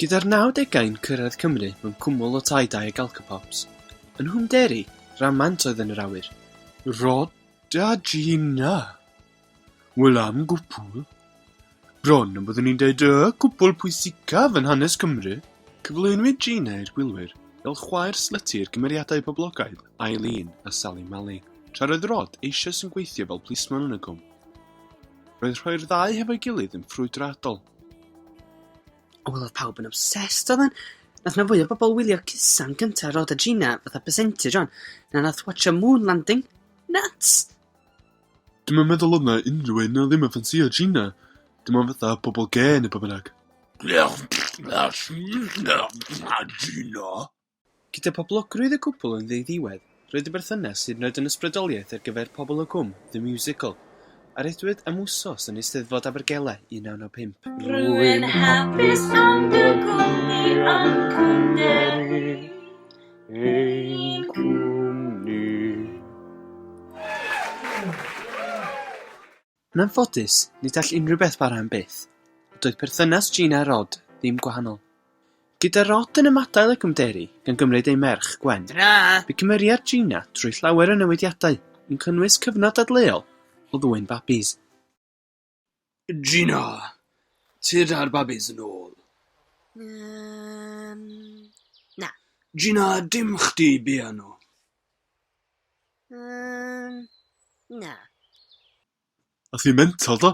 Gyda'r nawdegau'n cyrraedd Cymru mewn cwmwl o tai dai ag alcopops, yn Nghwm Deri, ramant oedd yn yr awyr. Rhoda Gina! Wel am gwpwl! Bron am byddwn i'n deud y cwbl pwysicaf yn hanes Cymru. Cyflwynwyd Gina i'r gwylwyr fel chwaer slyty i'r cymeriadau poblogaidd Eileen a Sally Malley, tra roedd Rod eisoes yn gweithio fel plismon yn y Gwm. Roedd rhoi'r ddau hefo'i gilydd yn ffrwydradol. O, wel, oedd pawb yn obsessed, oedd yn. Nath na fwy o bobl wylio Cusan gyntaf Rod a Gina fatha percentage o'n. Na nath watcha Moon Landing. Nuts! Dwi'm yn meddwl oedd 'na unrhyw un 'na ddim yn ffansïo Gina. Dim ond fatha pobl gê neu be' bynnag. Gyda phoblogrwydd y cwpl yn ddiddiwedd, roedd y berthynas, hyd yn oed yn ysbrydoliaeth ar gyfer pobl o Gwm, The Musical, a rhyddhwyd am wsos yn Eisteddfod Abergele 1995. Rwy'n hapus am dy gwmni a'n cwmni. ein cwmni. Yn anffodus, nid all unrhyw beth bara am byth, a doedd perthynas Gina a Rod ddim gwahanol. Gyda Rod yn ymadael y cymderu, gan gymryd ei merch, Gwen, bu cymeriad Gina trwy llawer o newidiadau, yn cynnwys cyfnod dadleuol o ddwyn babis. Gina, tyd a'r babis yn ôl. Um, na. Gina, dim chdi biano. Um, na. A ti'n mental do?